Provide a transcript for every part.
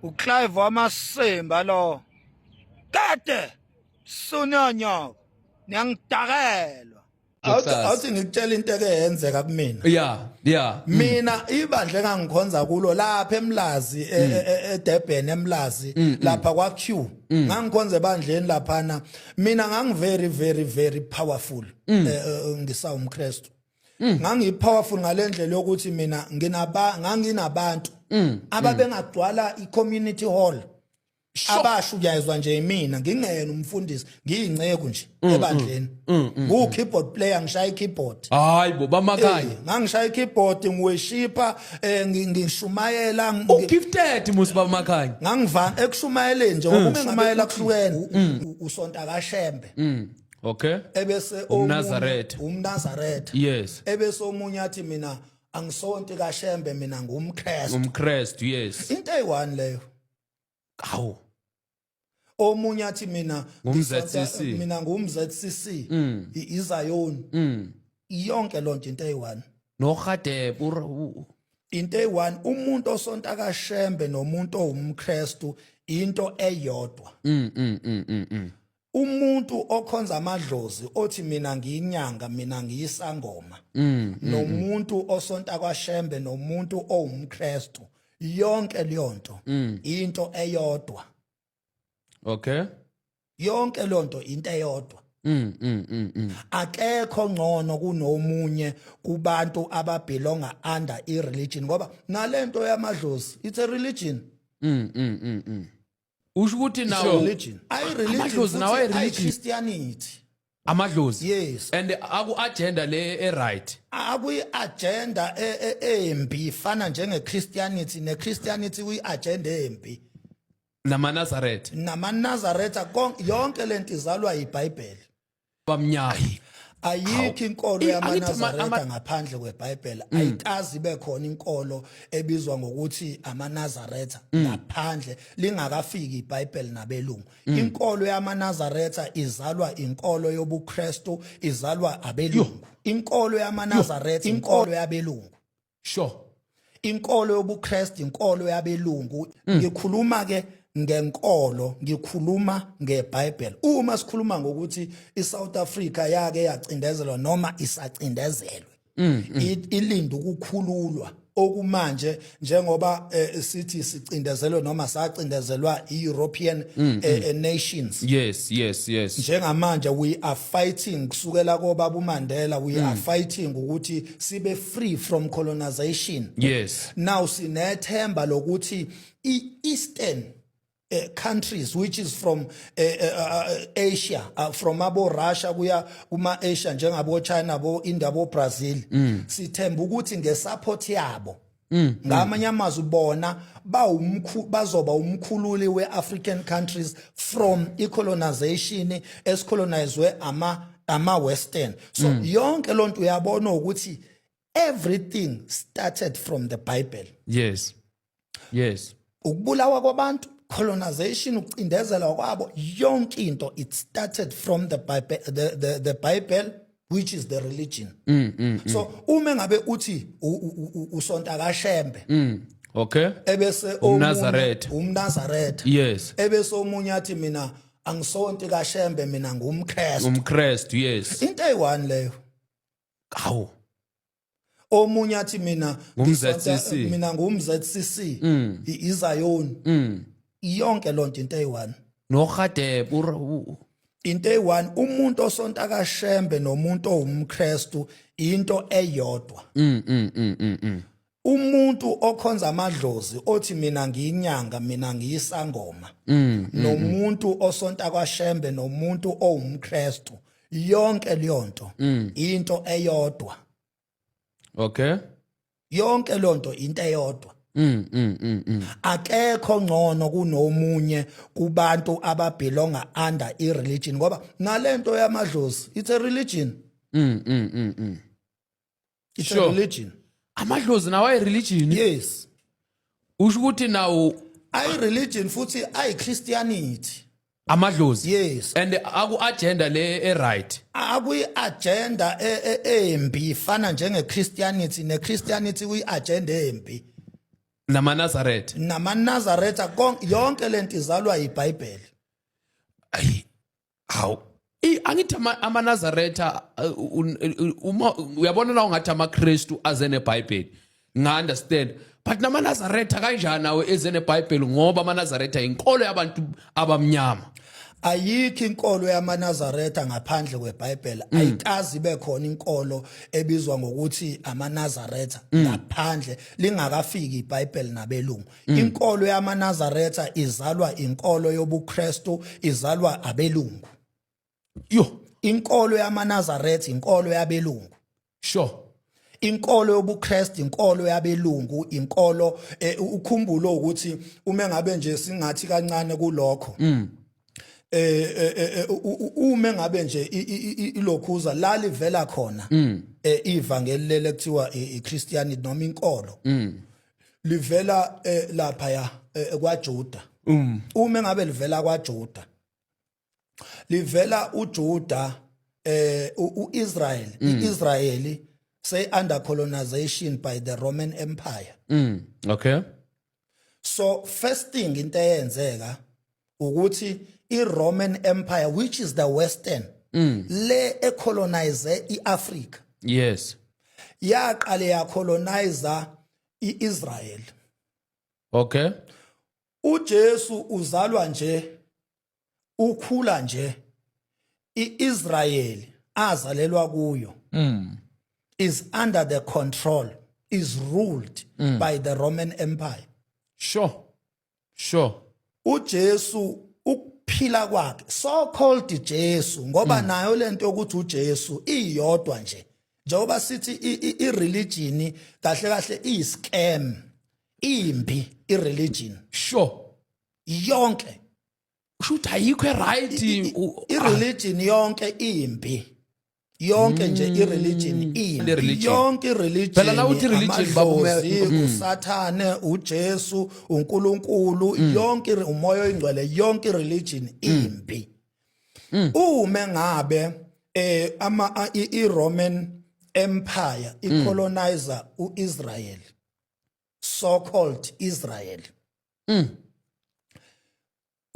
uclive wamasimba lo kade sunonyoko niyangidakelwa awuthi ngikutshela into eke yenzeka kumina yeah yeah mm. mina ibandla engangikhonza kulo lapha emlazi e- mm. e- e- eDurban emlazi mm, lapha kwa Q ngangikhonza ebandleni laphana mina ngangi very very very powerful eh, eh, ngisawumkristu Mm. ngangipowerful ngalendlela yokuthi mina nginaba nganginabantu mm. mm. ababengagcwala icommunity hall abasho uyayizwa nje imina ngingena umfundisi ngiyinceku nje mm, ebandleni ngu keyboard player ngishaya ikeyboard hayi bo bamakanye eh, ngangishaya ikeyboard ngiweshipa eh, ngishumayela u gifted musi bamakanye ngangivana ekushumayeleni nje ngoba ungengamayela kuhlukene usonta kashembe okay ebese umnazaretha umnazaretha yes ebese omunye athi mina angisonti kashembe mina ngumkrestu umkrestu yes into eyi-one leyo awu omunye athi mina ngumzcc mina ngumzcc mm. izayoni mm. yonke loo nto into eyi-one norhadeb into eyi-one umuntu osonta kashembe nomuntu owumkrestu into eyodwa mm, mm, mm, mm, mm. umuntu okhonza amadlozi othi mina ngiyinyanga mina ngiyisangoma mm, mm, mm. nomuntu osonta kwashembe nomuntu owumkrestu yonke leyonto mm. into eyodwa okay yonke lonto into eyodwa mm, mm, mm, mm. akekho ngcono kunomunye kubantu ababelonga under i religion ngoba nalento yamadlozi it's a religion mm, mm, mm, mm. usho ukuthi nawo religion. I religion Amadlozi nawo futhi I ayireligion Christianity. amadlozi Yes. and aku-agenda le e-right Akuyi-agenda e- e- embi ifana njenge-Christianity ne-Christianity kuyi-agenda embi. namanazaretha NamaNazaretha kon- yonke lento izalwa yiBhayibheli. abamnyama ayikho inkolo I- angithi ama- yamanazareta ama- ngaphandle kwebhayibhela ayikazi ibe khona inkolo ebizwa ngokuthi amanazareta ngaphandle lingakafiki ibhayibheli nabelungu inkolo yamanazareta izalwa inkolo yobukrestu izalwa abelungu inkolo yamanazareta inkolo yabelungu sure inkolo yobuKristu inkolo yabelungu mm. ngikhuluma ke ngenkolo ngikhuluma ngeBhayibheli uma sikhuluma ngokuthi iSouth Africa yake yacindezelwa noma isacindezelwe mm, mm. ilinda ukukhululwa okumanje njengoba eh, sithi sicindezelwe noma sacindezelwa iEuropean mm, mm. Eh, eh, nations yes yes yes njengamanje we are fighting kusukela kobaba uMandela we mm. are fighting ukuthi sibe free from colonization yes now sinethemba lokuthi i-eastern uh, countries which is from uh, uh, Asia uh, from abo Russia kuya kuma Asia njengabo China bo India bo Brazil mm. sithemba ukuthi nge support yabo Mm. ngamanye amazwi bona bazoba umkhululi we-african countries from icolonization esicolonizwe ama-western so mm. yonke loo nto uyabona ukuthi everything started from the bible yes yes ukubulawa kwabantu colonization ukucindezelwa kwabo yonke into it started from the bible, the, the, the bible which is the religion mm, mm, mm. so uma ngabe uthi usonta kashembe mm. okay ebese umnazaretha umnazaretha yes ebese omunye athi mina angisonti kashembe mina ngumkrestu umkrestu yes into eyi-one leyo kawu omunye athi mina ngumzcc mina ngumzcc mm. izayoni mm. yonke lonto into eyi-one nohadeb into eyi-one umuntu osonta kashembe nomuntu owumkrestu into eyodwa mm, umuntu okhonza amadlozi othi mina ngiyinyanga mina ngiyisangoma nomuntu osonta kwashembe nomuntu owumkrestu yonke leyo nto mm. into eyodwa okay yonke leyo nto into eyodwa Mm, mm, mm, mm. akekho ngcono kunomunye kubantu ababelonga under i-religion ngoba nalento yamadlozi it's a religion mm, mm, mm, mm. it's Sure. a religion amadlozi nawo ayireligion yes usho ukuthi nawo ayi religion futhi ayi christianity amadlozi yes and aku-agenda le e-right akuyi agenda e- e- embi ifana njenge christianity ne christianity kuyi agenda embi namanazaretha namanazaretha kon- yonke lento izalwa yibhayibheli ayi hawu I- angithi ama- amanazaretha uh, un- un- uma uyabona la ungathi amakristu aze nebhayibheli nga-understand but namanazaretha kanjani awo eze nebhayibheli ngoba amanazaretha yinkolo yabantu abamnyama ayikho inkolo yamanazaretha ngaphandle kwebhayibheli ayikazi ibe khona inkolo ebizwa ngokuthi amanazaretha ngaphandle lingakafiki ibhayibheli nabelungu Mm. Inkolo yamaNazaretha izalwa inkolo yobuKristu, izalwa abelungu. Yo, inkolo yamaNazaretha inkolo yabelungu. Sure. inkolo yobuKristu inkolo yabelungu inkolo eh, ukhumbulo ukuthi uma ngabe nje singathi kancane kulokho mm. eh, eh, eh, eh uma ngabe nje ilokhuza la livela khona mm. eh, ivangeli lele kuthiwa iChristianity noma inkolo mm. livela eh, lapha ya eh, kwaJuda mm. uma engabe livela kwaJuda livela uJuda eh uIsrael mm. iIsrayeli say under colonization by the Roman Empire mm. okay so first thing into eyenzeka ukuthi i-roman empire which is the western mm. le ecolonize i-afrika yes yaqale yacolonize i-israel okay ujesu uzalwa nje ukhula nje i-israyeli azalelwa kuyo mm. is under the control is ruled mm. by the roman empire sure sure uJesu ukuphila kwakhe so called Jesu ngoba mm. nayo lento yokuthi uJesu iyodwa nje njengoba sithi i religion kahle kahle i scam imbi i religion sure yonke kushuthi ayikho right i religion yonke imbi yonke nje mm. ireligion imbi yonke ireligion mm. usathane ujesu unkulunkulu mm. yonke umoya oyingcwele yonke ireligion imbi uma ngabe eh ama iroman empire icolonizer uisrael so called israel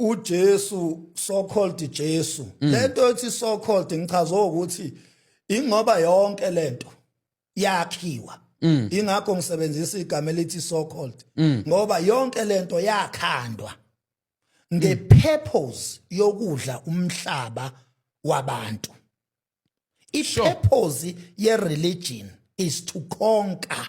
uJesu so called Jesu mm. lento ethi so called ngichaza ukuthi ingoba yonke lento yakhiwa mm. ingakho ngisebenzisa igama elithi so called mm. ngoba yonke lento yakhandwa nge purpose yokudla umhlaba wabantu i purpose ye religion is to conquer